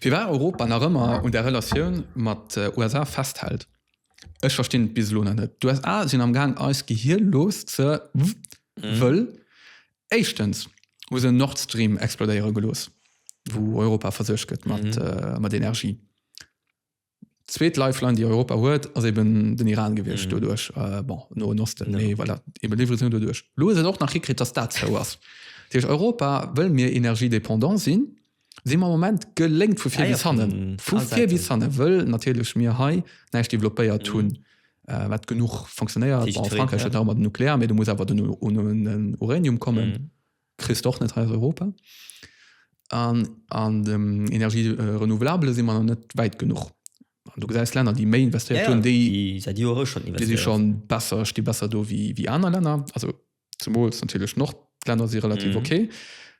Firwat Europa nach ëmmer un der Relatioun mat USA festhält, ech verstinn et bis elo nach net. D'USA sinn am gaang eis Gehir looss ze wëll éischtens hu se Nord Stream explodéiere gelooss wou Europa versuergt gëtt mat Energie. D'zweet Lifeline déi Europa huet ass eben den Iran gewiescht mm. doduerch äh, bon, no en Osten no. Nee, well dat eben Livraison doduerch. Lo se och nach hikritt, dass dat zou ass. Duerch Europa wëll mir energiedependant sinn, si ma Moment geléngt vu fir bis hannen. Vu fir bis hanne wëll natierlech mir hei näicht developpéiert mm. hunn. Mm äh, wat genug funktionéiert Frankreich ja. mat Nuklear, mé du muss awer den un Uranium kommen. Mm. Kriss d'och net hei aus Europa. An an dem Energie renouvelable si mer nach net wäit genuch. An du gesäis Länner, déi méi investéiert hunn, déi säit Jore schonn investéieren. Déi si schonn besser, sti besser do wéi wéi aner Länner. Also zemools natierlech d'Nordlänner si relativ ok.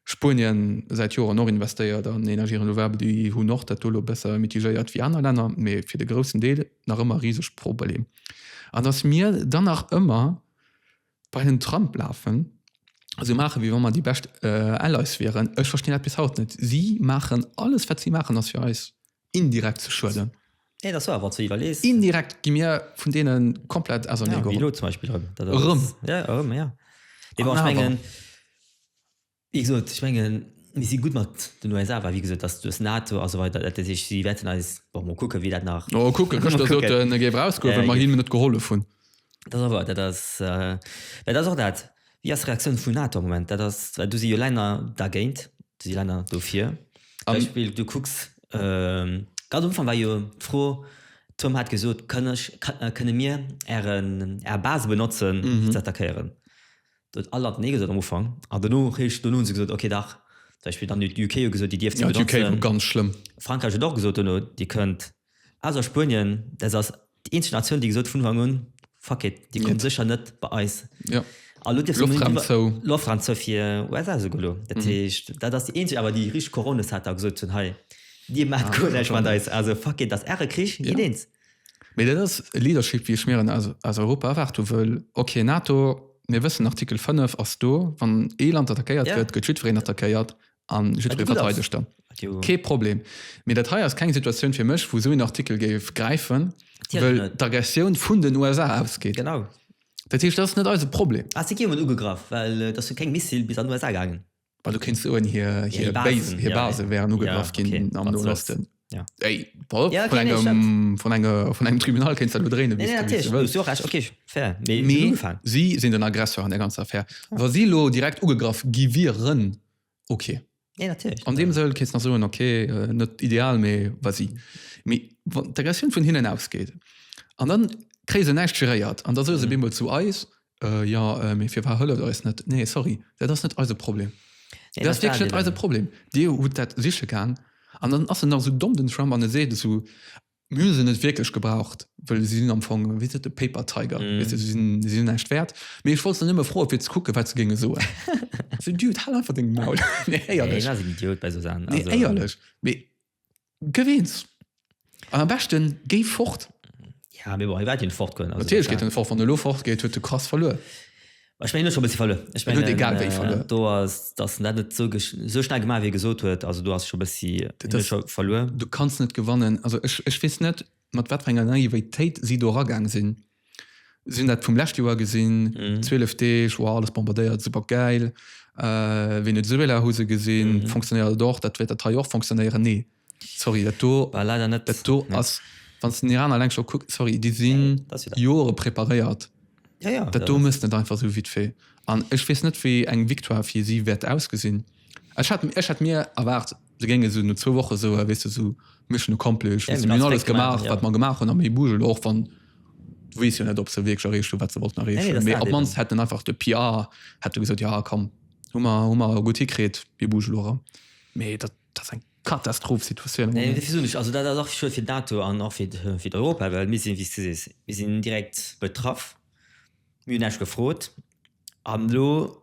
Spuenien säit Joren och investéiert an Energie renouvelable. Déi hunn och dat do elo besser mitigéiert wéi aner Länner, mee fir de groussen Deel nach ëmmer riseg Probleem. An datt mir dann nach ëmmer Bei den Trump lafen, sou maachen wéi wa mer déi bescht Allies wieren. Ech verstinn eppes haut net. Si maachen alles wat si maachen ass fir eis indirekt ze schueden. Nee dat ass waar, wann s de iwwerlees. Indirekt gi mir vun deene komplett auserneegeholl. Wéi elo zum Beispill erëm. Erëm. Jo erëm, jo. Mee bon ech mengen. Wéi gesot, ech mengen, mir si gutt mat den USA, well, wéi gesot, dass duerch NATO a sou weider, dat heescht, si wäerten eis, bon, mol kucken, wéi dat nach. Mol kucken, gëschter sot en, e géif erausgoen, well mer hinnen net gehollef hunn. Dat ass wouer, dat ass, well dat ass och dat, Wéi ass d'Reaktioun vun NATO am Moment? Dat ass, well do si jo Länner dergéint, do si Länner dofir. Zum Beispill, du kucks, ganz am Ufank war jo d'Fro, Trump hat gesot, Kënne mir Äre Base benotzen, fir ze attackéieren? Do huet all Land Nee gesot am Ufank an dono réischt dono hu se gesot, ok dach. Zum Beispill dann huet UK gesot, déi dierft se benotzen. Ja, d'UK war ganz schlëmm. Frankräich huet och gesot dono, Dir kënnt. Ausser Spuenien, dat ass déi eenzeg Natioun, déi gesot huet vun Ufank un, Fuck it, Dir kommt sécher net bei eis. Ja. A elo dierf se unbedéngt iwwer. Loftraum zou. Loftraum zou fir USA esouguer elo. Dat heescht, dat ass déi eenzeg awer, déi richteg Couronne hat a gesot hunn, Hei, Dir maacht guer näischt mat eis. Also, fuck it, dat ass Äre Krich, geet eens. Mee dat ass e Leadership, wéi ech mir en aus Europa erwaart hu wëll. Ok, NATO, mir wëssen, Artikel 5 ass do, wann ee Land attackéiert gëtt, gëtt jiddwereen attackéiert a jiddweree verteidegt dann. Kee Problem. Mee dat hei ass keng Situatioun fir mech, wou esou een Artikel géif gräifen, well d'Aggressioun vun den USA ausgeet. Genau. Dat heescht, dat ass net eise Problem. Ah, si gi jo emol ugegraff, well et ass jo keng Missile bis an den USA gaangen. Well du kéinst soen, hir, Ja, hir hir Basen, Basen, hir ja, ja. Base wären ugegraff Ja, ginn okay, am wat Noen soll's. Osten. Ja. Ey, Paul, Ja, vun okay, nee, ich engem, vun enger, vun engem Tribunal kéinst dat lo dréinen, wéi Nee, s du, wéi s du natierlech, du hues wëlls. jo recht, okay, fair. Mee Mee den Ufang. si sinn den Aggressor an der ganzer Affär. Wa si lo direkt ugegraff gi wieren, okay. Nee, natierlech. An deem Sëll kéinst nach soen, okay, äh, net ideal, mee wa si. Mee wann d'Aggressioun vun hinnen ausgeet an dann kréie se näischt geréiert an da soe se bemol zu eis, Äh jo, mee firwat hëlleft Der eis net? Nee, sorry, dat ass net eise Problem. Dat ass wierklech net eise Problem. Dir hutt dat siche gaang. An dann ass en nach esou domm, den Trump, an e seet esou, Mir hu se net wierklech gebraucht, well se sinn am Fong, wéi seet e, paper tiger, weess de, se sinn näischt wäert. Mee ech wollt se nëmme froen, fir ze kucken, wat se géinge soen. Esou, Dude, hal einfach deng Maul. Nee, éierlech. Deen ass en Idiot bei esou Saachen. Also. Nee, éierlech. Mee Gëff eens. An am beschten géi fort. Ja, mee bon, hie wäert jo net fort goen. Natierlech geet en net fort. Wann en elo fort geet, huet e krass verluer. Ech mengen, en huet scho e bëssi verluer. Ech mengen, do ass dass en dat net esou esou schnell gemaach, wéi e gesot huet. Also do ass scho e bëssi, en huet scho verluer. Du kanns net gewannen. Also ech weess net, mat wat fir enger Naivéitéit si do eragaang sinn. Si hunn dat vum lescht Joer gesinn, 12 Deeg, wow, alles bombardéiert, super gäil, äh, Venezuela hu se gesinn, fonctionnéiert et och, dat wäert dat hei och fonctionnéieren? Nee, sorry, dat do, War leider net. dat do ass, wann s de den Iran alleng scho kucks, sorry, déi sinn Dat ass jo dat. Jore preparéiert. Ja, ja, Dat do méchst net einfach esou vite fait. An ech weess net, wéi eng Victoire fir si wäert ausgesinn. Ech hat, ech hat mir erwaart, se géing esou no zwou Woche soe weess de sou Mission accomplished, ja, mir hunn alles gemaach wat mer gemaach hunn am Hebugel och wann du weess jo net ob se wierklech erreecht hunn wat se wollten erreechen, nee, mee op mannst hätt en einfach de PR hätt e gesot, jo komm hu mer hu mer gutt hikritt Hebugel ora mee dat dat ass eng Katastroph Situatioun. Nee, dat versuch ech also dat ass och scho fir d'ATO an och fir fir d'Europa, well mir sinn wéi s du sees mir sinn direkt betraff, mir hunn näischt gefrot an elo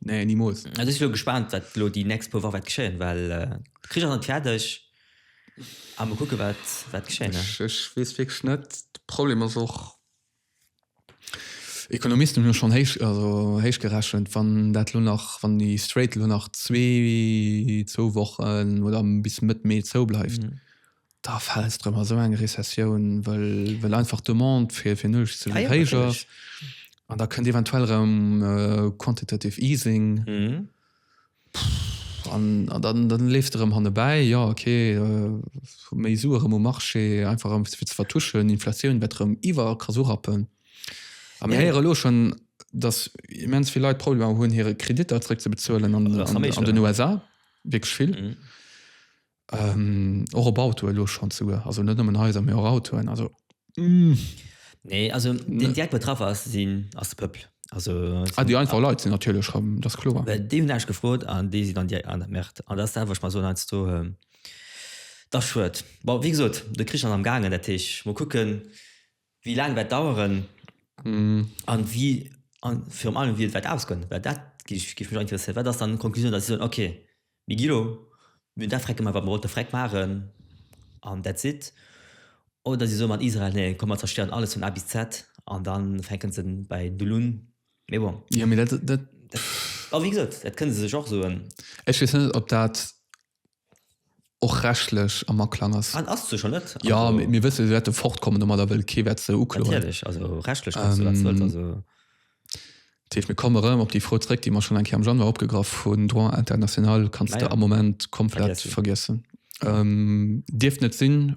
Nee, niemals. Also ich lo gespannt, wat lo die nächst paar Wochen wat geschehen, weil äh, Krieg ist nicht fertig. Aber mal gucken, wat, wat geschehen. Ne? Ich, ich weiß wirklich nicht. Problem ist auch, Ekonomisten hun schon héich also héich gerechnet, wann dat lo nach wann die Straight lo nach zwee zwou Wochen oder bis Mëtt Mee zou bleift. Mhm. Da fält drëm a sou eng Rezessioun, wëll wëll einfach d'Demande fir fir Nuecht ze Ah jo, héich natierlech. ass an da kënnt eventuell erëm äh, quantitative easing Mhm. an an dann dann leeft erëm hanne bäi, jo okay äh, méi Sue erëm um Marché einfach erëm fir ze vertuschen, Inflatioun wäert erëm iwwer Kass urappen. A mir Ja. héiere lo schonn, datt immens vill Leit Problemer hunn hire Kreditter zréck ze bezuelen an Das an an den Amerika. USA, wierklech vill. Mhm. Och op Auto elo schon zu also net nëmmen Haiser mé och Autoen also nee also den Di betraff ass sinn ass pëppel also ah, déi einfach Leiit sinn natierlech schreiben das klo dé hun ech gefrot an déi si dann Dir an der Märert an das selwech mal so als du ähm, da schuet wie gesot de Krich an am gangen der Tech mo kucken. wéi laang wäert daueren a wéi, a virun allem wéi et wäert ausgoen, well dat géif mech och interesséieren. Wat ass dann d'Conclusioun, datt si soen, okay, mir gi elo, mir hunn dat Vreck gemaach, wat mir wollte Vreck maachen an that's it? Oder si soe mat Israel, nee, komm mer zerstéieren alles vun A bis Z an da fänke se bäi Null un? Mee bon. Jo, mee dat, dat. A wéi gesot, dat kënne se sech och soen. Ech weess net, ob dat och rechtlech am Aklang ass. An ass se scho net? Ja, also, mir, mir wësse se wäerte fortkommen domadder, well kee wäert se ukloen. Natierlech, also rechtlech kannst ähm, du wat wëllt. Also. Teef, mir komme rëm op déi Fro zréck, déi mer schon eng Kéier am Januar opgegraff hunn. Droit international kannst naja. du am Moment komplett vergiessen. vergiessen. Ähm, dierft net sinn,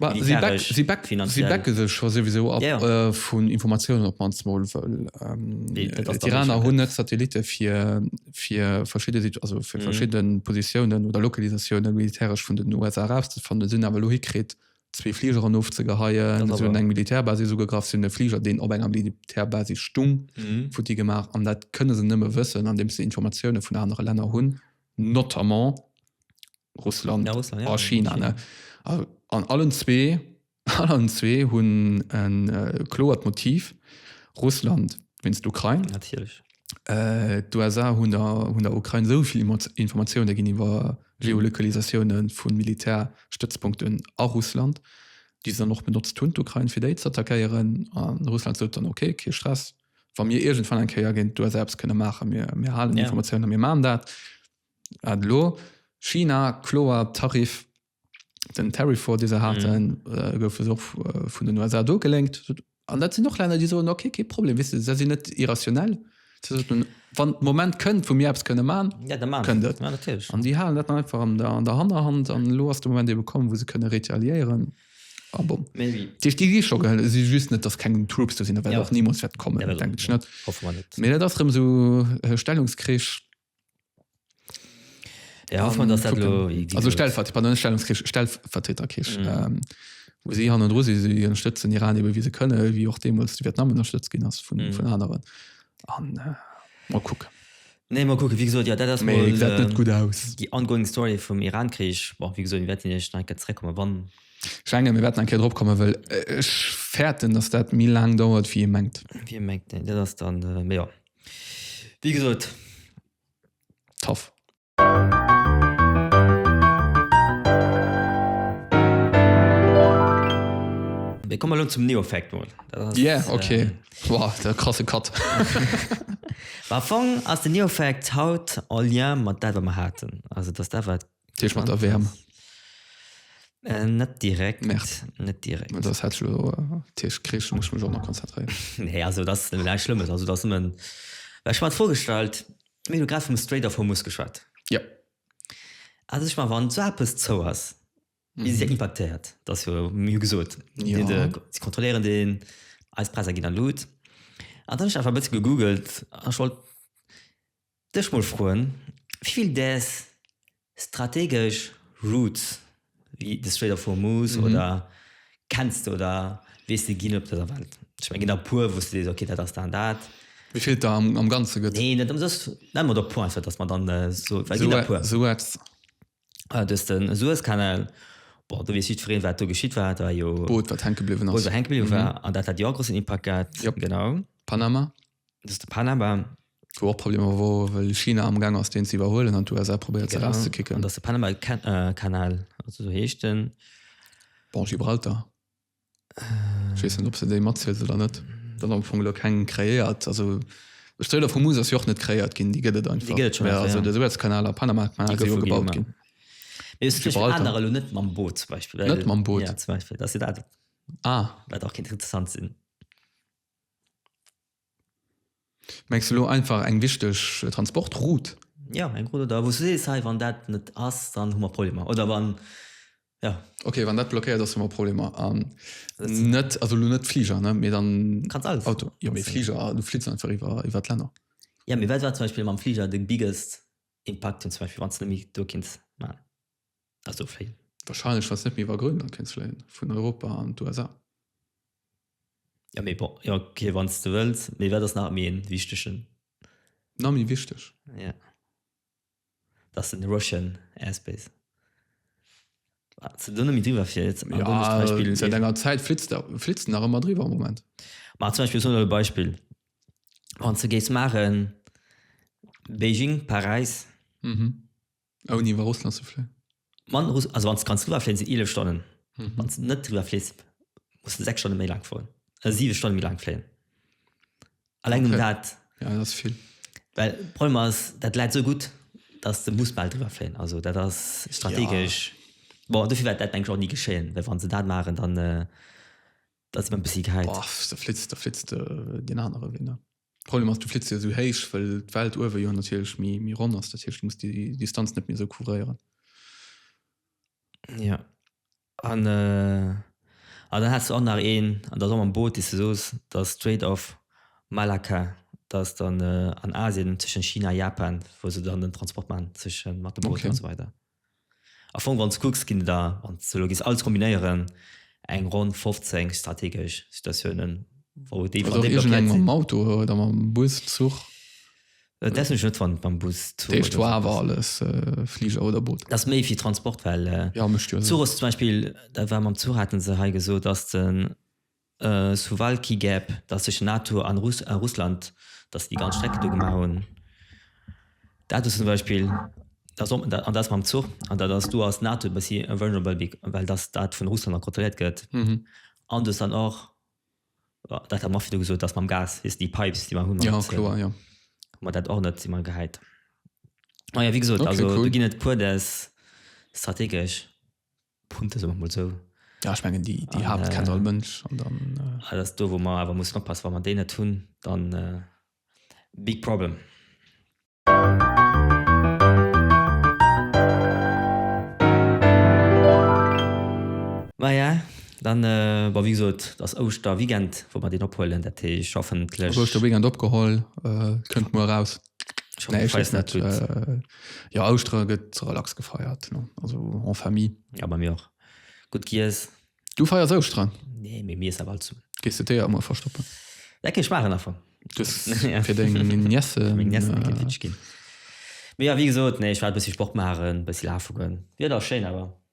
Si becke sech jo souwisou ab vun Informatiounen, op mannst mol, wëll d'Iraner hunn net Satellitte fir verschidde Positiounen oder Lokalisatioune militäresch vun den USA erauszefannen. Si hunn awer elo hikritt, zwee Fligeren ofzegeheien, si hunn eng Militärbasis ugegraff, si hunn e Fliger, deen op enger Militärbasis stung, futti gemaach. An dat kënne se nëmme wëssen, andeems se Informatioune vun anere Länner hunn, notamment, Russland a China. An allen zwee allen zwee hunn e kloert Motiv. Russland winst d'Ukrain. Natierlech. Äh, d'USA hunn der hunn der Ukrain esou vill Informatioune ginn iwwer Geolokalisatioune vun Militärstëtzpunkten a Russland, déi se dann och benotzt hunn, d'Ukrain, fir déi z'attackéieren. An Russland sot dann, okay, kee Stress, wa mir iergendwann eng Kéier géint d'USA eppes kënne maachen, mir halen Informatioun a mir maachen dat. An elo China, kloer Tariff, den Tariff War dee se haten, gouf elo och vun den USA dogelénkt. An dat sinn och Länner déi soen, okay, kee Problem, wéisst de, se sinn net irrationell, se soten, wann de Moment kënnt wou mir eppes kënne maachen, kënnt et. An déi halen dat dann einfach an der Hannerhand an elo ass de Moment ebe komm wou se kënne retaliéieren a bon. Dat heescht déi gi scho gehëlt, et si just net, datt keng Troops do sinn, dat wäert och nimools wäert kommen, denkt ech net. Mee dat ass erëm esou e Stellungskrich. Ja, hoffen wir, dass das lo easy Also Stellvert, pardon, Stellungskrieg, Stellvertreterkrieg. Mhm. Ähm, wo sie han dro si sie ënnerstëtzen Iran ebe wie se kënne, wie och deemools de Vietnam ënnerstëtzt ginn ass vun mm. vun aneren. An äh, mal kucken. Nee mal kucken, wie gesagt, ja, dat ass mal, äh, net ähm, gut aus. Die ongoing Story vum Iran-Krich, bon, wie gesagt, werden ech nach zréckkommen, wann Schenge mir werden enke dropkomme well äh, ech fährten dass dat mi lang dauert wie mengt wie mengt dat dann äh, ja. Wéi gesot, tough. Mir kommen elo zum Neofakt mol. Yeah, ok. Wow, dat krasse Cut. Mä am Fong ass den Neofakt haut en Lien mat dat wat mer haten. Also dass dat wat. Tisch mat der Wärm. Äh, net direkt. Merd. Net direkt. Mä dass hätt ech lo äh, Tisch krich, muss ech mech och nach konzentréieren. Nee, also dat ass nämlech Schlëmmes. Also dat ass nëmmen, well ech mer dat vorgestallt, mir hunn jo grad vum Strait of Hormuz geschwat. Ja. Also ech mar, wann esou eppes zou ass, wéi si dat impaktéiert, dat ass jo, mir hu gesot, déi hunn de, Ja. si kontrolléieren deen, eis Präisser ginn erlut. An dann hu ech einfach e bësse gegoogelt an ech wollt Dech mol froen wivill däers strategesch Routes wéi de Strait of Hormuz oder kenns de oder weess de ginn op dëser Welt? Ech mengen ginn der e puer wous de sees ok dat ass dat an dat. Wivill et der am ganze gëtt? Nee net ëmsoss, nenn mer der puer einfach dass mer dann esou, well ginn der e puer. Suez. Ah du hues de Suezkanal, bon do weess jiddwereen wat do geschitt war, do war jo. D'Boot wat hänke bliwwen ass. D'Boot wat hänke bliwwen war an dat hat jo och e grossen Impakt gehat. Jop. Genau. Panama. Dat ass de Panama. Wou och Problemer wor, well China amgaang ass deen ze iwwerhuelen an d'USA probéiert se erauszekicken. An dat ass de Panama-Kanal, also esou heescht en. Bon, Gibraltar. Ech weess net, ob se déi matzielt oder net. Et ass am Fong elo keng kreéiert, also d'Strait of Hormuz ass jo och net kreéiert ginn, déi gëtt et einfach. Déi gëtt et schonn, jo. Also de Suezkanal a Panamakanal, déi goufe gebaut ginn. Mee ech verstinn aner elo net mam Boot zum Beispill, well. Net mam Boot? Jo, zum Beispill. Dat ass jo dat. Ah. Wat och kéint interessant sinn. Mengs de lo einfach eng wichteg Transportroute? Jo, eng Route, oder wou s du sees, hei, wann dat net ass, dann hu mer Problemer, oder wann, jo. Ok, wann dat blockéiert ass, hu mer Problemer. An net, also lo net Fliger, ne, mee dann Auto. Du kanns alles huelen. Jo, mee Fliger, du flitt einfach iwwer, iwwer d'Länner. Jo, mee wat war zum Beispill mam Fliger de biggest Impakt, zum Beispill, wann s de méi do kéints maachen? Also vill. Wahrscheinlech wanns net méi iwwer Grönland kéints fléien vun Europa an d'USA. Jo mee bon, jo ok wanns de wëlls, mee wat ass nach méi een wichtegen. Nach méi wichteg? Jo, dass den Russian Airspace ze do net méi driwwer flitt. Seit enger Zäit flitts der, flitts de nach ëmmer driwwer am Moment. Ma zum Beispill, ech soen elo e Beispill, wanns de géifs maachen Beijing, Paräis, Ouni iwwer Russland ze fléien? Mann, also wann s de kanns driwwer fléien, sinn 11 Stonnen. Mhm. Wann s de net driwwer fliss, muss de 6 Stonne méi laang fueren, äh, 7 Stonne méi laang fléien. Alleng okay. um dat. Ja, dat ass vill. Well Problem ass, dat läit so gutt, dass de muss bal driwwer fléien. Also dat ass strategesch. Ja. Bon, dofir wäert dat eng Jour nie geschéien, well wann se dat maren, dann äh, dat si man bis si geheit. Boah, da flitzt, da flitzt äh, den anere Win. Problem ass du flitts jo sou héich, well d'Welt uewe jo natierlech méi méi ronn ass, dat heescht du muss déi Distanz net méi sou couvréieren. Ja an äh a dann has du och nach een an der am Boot déi se soos der Strait of Malacca dass dann äh an Asien tëschent China a Japan wou se dann den Transport man tësche mat dem Boot an esou weider. Am Fong wann s de kucks ginn et der, wann s de se elo giss all kombinéieren, eng ronn 15 strategesch Situatiounen, wou déi Oder iergendeng mam Auto oder mam Bus, Zuch. Dat wëssen ech net, wann et mam Bus, Zuch oder. Dierft jo awer alles, Fliger oder Boot. Dat ass méi fir Transport, well Zuch ass zum Beispill, dat war mam Zuch, hate se hei gesot, ass de Suwalki gäb, datt sech NATO an Russland, datt déi ganz Strecke do gemaach hunn. Dat do zum Beispill, datt op an dat mam Zuch an dat ass do ass NATO e bëssi vulnerable be well datt dat vun Russland nach kontrolléiert gëtt. An du hues dann och, dat hat mer och virdru gesot, datt mam Gas, wéis déi Pipes déi mer hunn, hu mer dat och net si mer gehäit. Majo wéi gesot, also do ginn et e puer des strategesch. Punkte soen wir mol sou. Ja, ech mengen déi déi Haapt kennt all Mënsch an dann. Dat ass do wou mer awer mussen oppassen, wa mer déi net hunn, dann big problem. Maja dann bon wéi gesot ass Ouschterweekend wou mer deen ophuelen, dat heescht hoffentlech. Ouschterweekend opgeholl, kënnt muer eraus. Nee, ich weiß net. Äh, ja, Austra gëtt relax gefeiert. No. Also en Famille. Ja bei mir och. Gutt gies. Du feiers Austra? Nee, mé mir awer zu. Gees du Teer ëmmer verstoppen? Lecke schmaachen affer. fir deng Niesse ginn. Mé ja, wie gesot, nee, ich war bëssi Sport machen, bëssi lafe goen. Wieder schéin awer.